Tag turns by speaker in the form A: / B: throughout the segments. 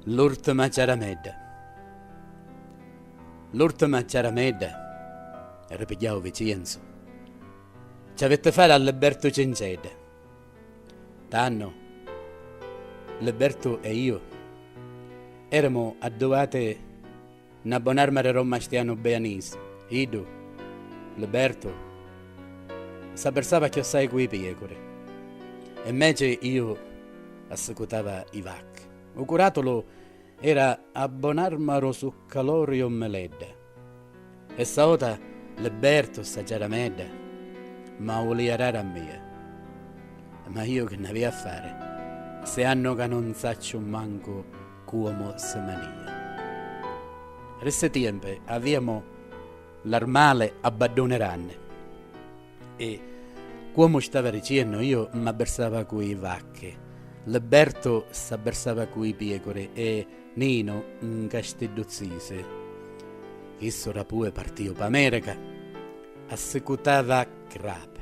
A: L'urtima ciaramedda L'urtima ciaramedda, ripigghiau Vicienzu, ci avitti fari a Libertu Cincedda. Tannu, Libertu e iu, erimu adduati Na bon'arma re Romma Stianu Beanis, iddu, Libertu, s'abbersava chiossai cu i piecuri, e mmeci iu assicutava i vacchi. U curatulu era a bon'arma ro Succalori o Meledda. Essa ota Libertu sta Giaramedda ma ulia rari a mia. Ma iu chi n'avia a fari, si annu ca non sacciu mancu cuomu si manìa. Ri ssi tiempi avìamu l'armali a badduni ranni e, cuomu stava riciennu, iu m'abbirsava cu i vacchi, Libbertu s'abbirsava cu i piecuri e Ninu nca sti duzzisi. Chissu rapui partiu p'America, assicutava crapi.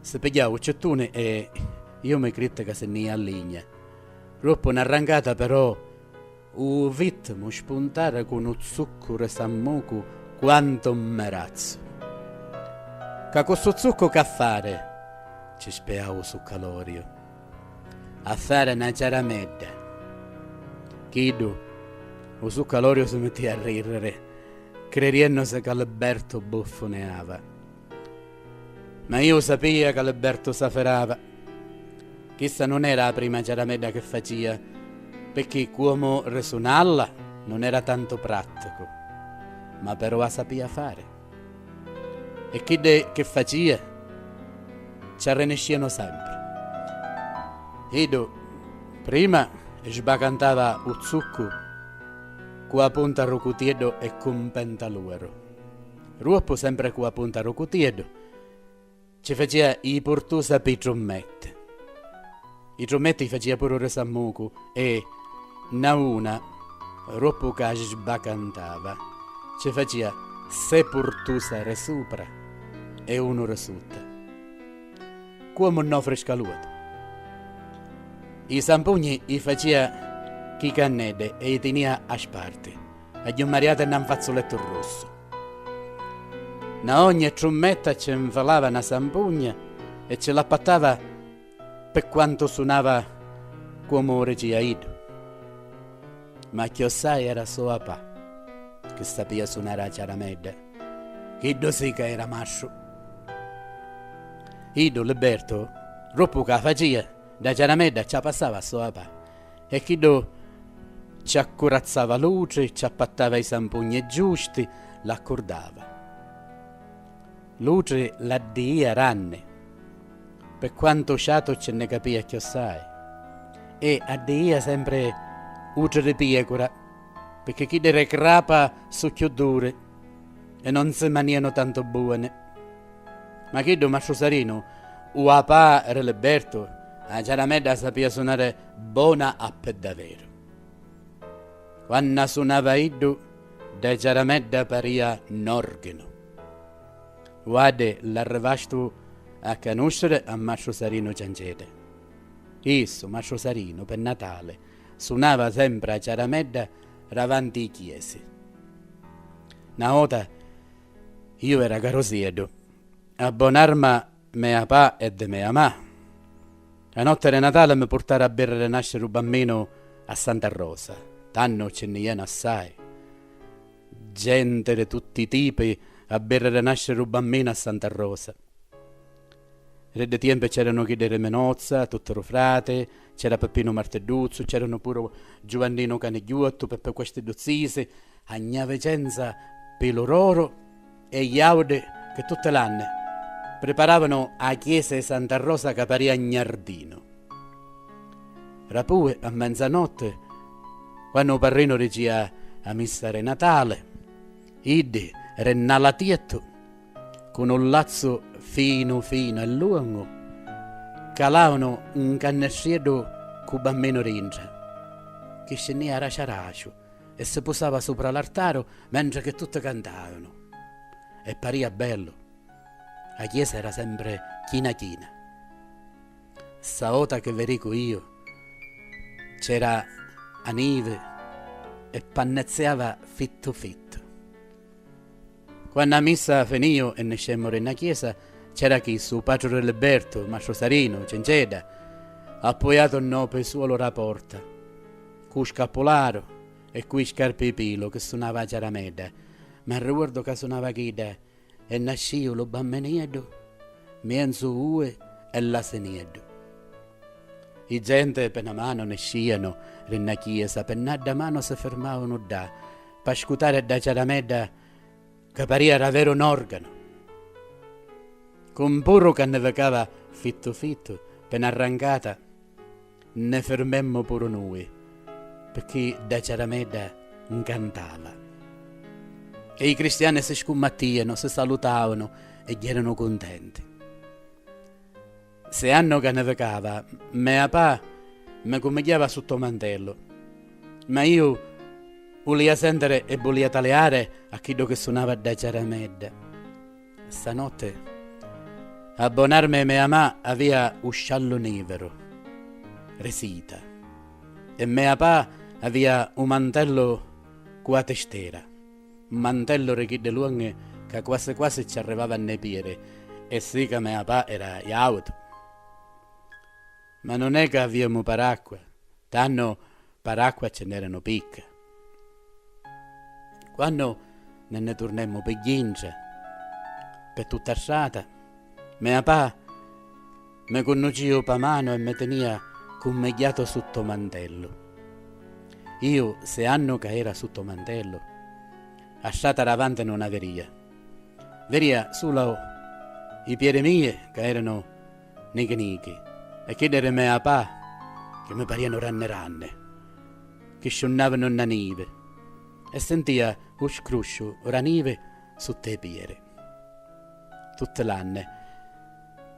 A: Si pigghiau u cittuni e iu mi critti ca si nni ia a ligna. Roppu na rrancata però u vittimu spuntara cu nu zuccu ri sammucu quantu un merazzu. Ca cu stu zuccu ca fari? ci spiau u succaloriu. A fari na ciaramedda. Chiddu, u succaloriu si mittia a rirriri, cririennusi ca Libertu buffuneava. Ma iu sapia ca Libertu s'afferrava. Chissa nun era 'a prima ciaramedda che facia, pecchì cuomu risunalla nun era tantu pratticu, ma però 'a sapia fari. E chiddi chi facia, ci arriniscianu sempri. Iddu prima sbacantava 'u zuccu cu 'a punta ru cutieddu e cu 'n pentaluaru. Ruoppu sempre cu a punta ru cutieddu ci facia i purtusa pi trummette. I trummette i facia puru ri sammucu e, na una, ruoppu ca sbacantava, ci facia se purtusa ri supra e unu ri sutta. Cuomu nn'ofri scaluatu. I sampugni i facia chi cannedde e i tinia a sparti. Agghiummariate 'na 'nfazzulettu russu. Na ogni e trummetta ce 'nfalava 'na sampugna e ce l'appattava pe quantu sunava cuomu u regia iddu. Ma chiossai era so a pa, che sapia sunare a ciaramedda. Chiddu si ca era mastru. Iddu, Libertu, ruppu ca facia, da ciaramedda ce 'a passava so a pa. E chiddu ci accurazzava l'utri, ci appattava i sampugni giusti, l'accurdava. L'utri l'addiia ranni, pi quantu ciatu ci nni capia chiossai, e addiia sempri utri di piecura. Picchì chiddi re crapa su cchiù duri e non si manianu tantu buoni. Ma chiddu Mastru Sarinu, u apà re Libertu, a ciaramedda a sapìa sunare bona a pe daveru. Quannu a sunava iddu, dda ciaramedda parìa n'organu. Uaddi l'arrivastu a canusciri a Mastru Sarinu Ciancedda. Issu, Mastru Sarinu, pe Natali, Sunava sempri 'a ciaramedda ravanti 'i chiesi. Na vota, iu era carosieddu, a bon'arma mea pa e de mea ma', a notte de Natale mi purtaru a birri de nasciri u Bamminu a Santa Rosa, tannu ci nni ienu assai genti di tutti i tipi a birri de nasciri u Bamminu a Santa Rosa. Ri ddi tiempi c'eranu chiddi ri Minozza, tutti ru frati, c'era Pippinu Martidduzzu, c'eranu puru Giuvanninu Canigghiuottu, Peppi questi du zisi, a gna Vicenza pi lu roro e Iaudi chi tutti l'anni priparavanu a chiesa i Santa Rosa ca paria gnardinu. Rapui a menzanotti quannu u parrinu ricia a missa ri Natali, iddi ri nna latiettu, cu nu lazzu finu finu e lungu, calaunu 'n cannestrieddu cu Bamminu dintra, chi scinnia raciu araciu e si pusava supra l'artaru mentre chi tutti cantaunu. E paria bellu. A chiesa era sempre china china. Sta vota chi vi dicu iu, c'era a nivi e pannezziava fittu fittu. Quannu 'a missa finìu e niscemmu ri na chiesa, c'era chissu, 'u patru ri Libertu, Mastru Sarinu, Cencedda, appuiatu nnô pesuolu ra porta, cû scappularu e cû i scarpi 'i pilu chi sunava 'a ciaramedda. M'arriuordu ca sunava chidda e nascìu lu Bamminieddu mienzu ui e l'asinieddu. I genti pe na manu niscìanu ri na chiesa, pe n'adda manu si firmàunu ddà. P'ascutari dda ciaramedda ca paria raveru n'organu, cu un burru ca nni vicava fittu fittu pi na rrancata, nni firmemmu puru nui, picchì dda ciaramedda ncantava. E i cristiani si scummattianu, si salutavanu e gghièranu cuntenti. Sei anni o ca ni vicava, mea pa mi cumigghiava sutt'o mantellu. Ma iu ulia sentiri e bulia taliari a chiddu chi sunava dda ciaramedda. Stanotti, a bonarmi mea ma avia u sciallu niviru, ri sita, e mea pa avia u mantellu cu a tistera. mantellu ri chiddi lunghi ca quasi quasi cci arrivava a nni piri e si ca me apa era jautu. Ma nun è ca aviemu paracqua, tannu paracqua cci nn'eranu picca. Quannu ne nni turnemu pi gghintra, pe tutta a strata, me apa. Me cunnucìu pâ manu e me tenìa cummegghiatu sutt'ô mantellu. Iu se' annu ca era sutt'ô mantellu, a strata davanti nun 'a verìa. Verìa sulu i piedi mie ca eranu nichi nichi e chiddi di me apà chi mi parìanu ranni ranni, chi sciunnàvanu nnâ nivi e sentìa u scrusciu dâ nivi sutt'ê piedi. Tutti l'anni.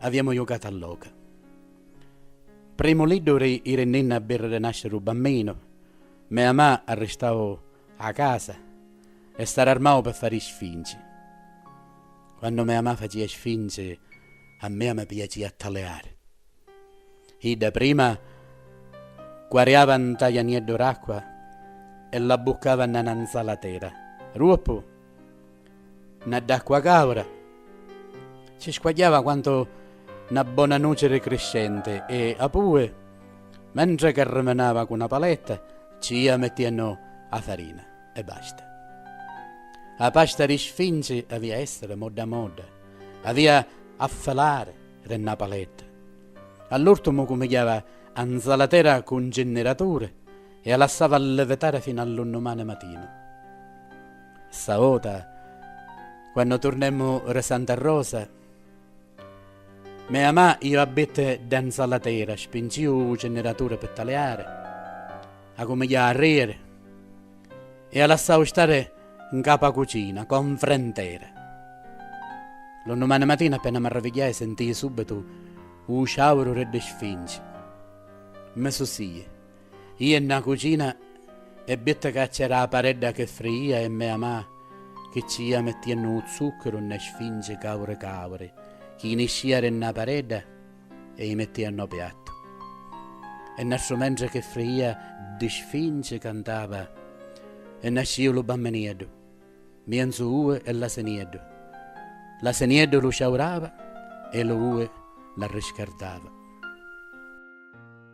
A: Aviemu jucatu a loca. Primu liddu ri iri ninna a birriri nasci ru bamminu, me amà arristau a casa e s'ararmau pi fari sfinci. Quannu me amà facia sfinci a mia mi piacia a taliari. Idda prima quariava nta janieddu r'acqua e l'abbuccava nna na nzalatera, ruoppu. Na d'acqua caura si squagghiava quantu na bona nuci ri criscenti e apue, mentri ca rimenava cu na paletta, ci ia mettiennu a farina e basta. A pasta ri sfinci avia essiri modda modda, avia a filari ri na paletta. All'urtumu cumigghiava a nzalatera cu ncinniraturi E a lassava llivetare finu a lu nnumani matinu. Sta vota, quannu turnemu ri Santa Rosa, mea ma' iu a bitti dda nzalatera, spinciu u cinniraturi pi taliari, accumigliau a riri e a lassau stari ncapu a cucina, co nfrentera. Lu nnumani matinu appena m'arravigghiai sintii subbitu u ciauru ri ddi sfinci. Mi susii. Ije nna cucina e bitti ca c'era a paredda che frijia e mea ma chi ci jia mettiennu u zucchiru nne sfinci cauri cauri chi i niscìa ri nna paredda e i mettìa nn'o piattu. E nnastru mentri che frijia ddi sfinci cantava e nascìu lu bamminieddu, mienzu ue e l'asenieddu, l'asenieddu lu ciaurava e lu ue l'arriscardava.